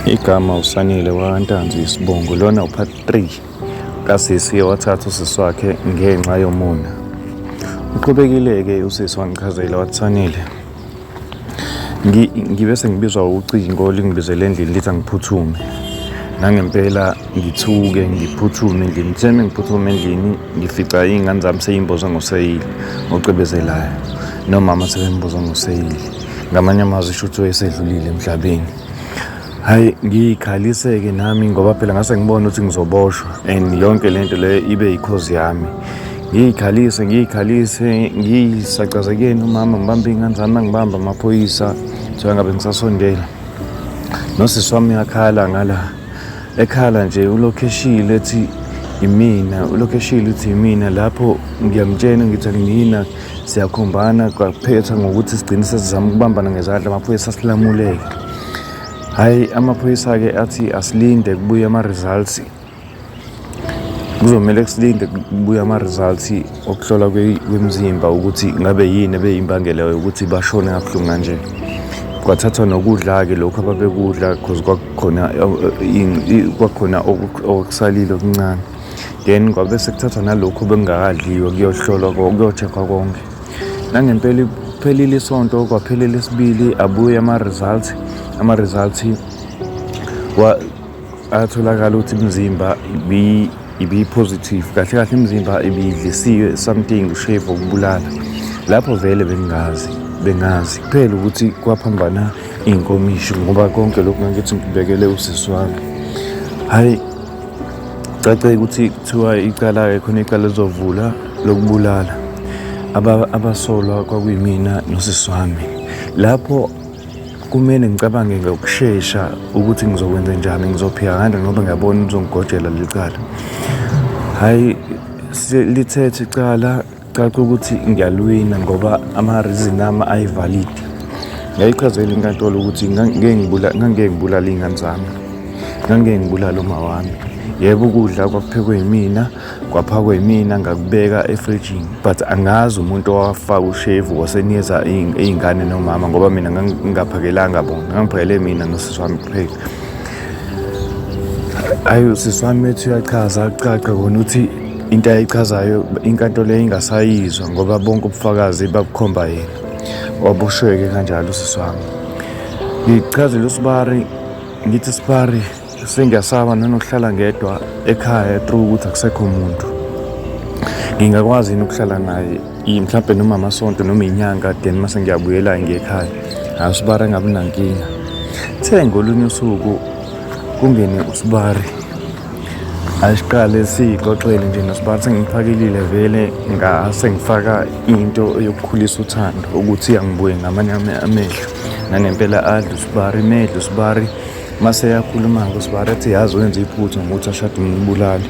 Igama uSanile waNtanzi isibongo lona upart 3 kasisi wathatha usisi wakhe ngenxa yomona. Uqhubekile-ke usisi wangichazela wathi Sanile ngibe sengibizwa ucingo lingibizele endlini lithi angiphuthume nangempela ngithuke ngiphuthume endlini kuthe mengiphuthume endlini ngifica iy'ngane zami seyimboza ngoseyili ocebezelayo nomama sebemboza ngoseyili ngamanye amazwi shuthi oyesedlulile emhlabeni hayi ngiyikhalise-ke nami ngoba phela ngase ngibona ukuthi ngizoboshwa and yonke le nto leyo ibe yikhozi yami ngiyikhalise ngiyikhalise ngiyisacazekeni umama ngibambe iy'ngane zami angibambe amaphoyisa kuthiwa ngabe ngisasondela nosisi wami uyakhala ngala ekhala nje ulokhu eshile ethi imina ulokhu eshile ukuthi imina lapho ngiyamtshena ngithi angiyina siyakhombana kwaphetha ngokuthi sigcine sesizama ukubambana ngezandla amaphoyisa silamuleke hhayi amaphoyisa-ke athi asilinde kubuye ama-results kuzomele kusilinde kubuye ama-results okuhlola kwemzimba ukuthi ngabe yini ebeyimbangela yokuthi bashone kabuhlungu kanje kwathathwa nokudla-ke lokhu ababekudla because kwakukhona kwakukhona okusalile okuncane then kwabe sekuthathwa nalokhu bengakadliwe kuyohlolwa kuyochekhwa konke nangempela iphelile isonto kwaphelele isibili abuye ama-results ama-results atholakala ukuthi imizimba ibiyi-positive kahle kahle imizimba ibiyidlisiwe something ushave okubulala lapho vele bengingazi bengazi kuphela ukuthi kwaphambana iy'nkomishi ngoba konke lokhu ngangithi ngibekele usisi wami hhayi cace ukuthi kuthiwa icala-ke khona icala lizovula lokubulala abasolwa kwakuyimina nosisi wami lapho kumele ngicabange ngokushesha ukuthi ngizokwenza njani ngizophika kanjani ngoba ngiyabona uzongigojela leli cala hhayi lithethe icala Caca ukuthi ngiyalwina ngoba ama-reason ami ayi-valid. Ngayichazela inkantolo ukuthi ngangike ngibulale iy'ngane zami, ngangike ngibulale uma wami. Yebo ukudla kwakuphekwe yimina, kwaphakwe yimina ngakubeka efrijini but angazi umuntu owafaka ushevu wasenikeza iy'ngane nomama ngoba mina ngingaphakelanga bona, ngangiphakele mina nosisi wami kuphela. Ayi usisi wami ethi uyachaza kucace kona ukuthi into ayichazayo inkantolo yayingasayizwa ngoba bonke ubufakazi babukhomba yena wabushweke kanjalo usisi wami ngichazele usibari ngithi sibari sengiyasaba nanokuhlala ngedwa ekhaya through ukuthi akusekho muntu ngingakwazi yini ukuhlala naye mhlawumbe noma amasonto noma inyanga then mase ngiyabuyela ngiyekhaya hayi usibari angabi nankinga the ngolunye usuku kungene usibari asiqale siyixoxele nje nosibani sengiphakilile vele ngase ngifaka into yokukhulisa uthando ukuthi angibuye ngamanye amehlo nangempela adla usibari medla usibari mase yakhuluma-ke usibari athi yazi wenza iphutha ngokuthi ashade umbulali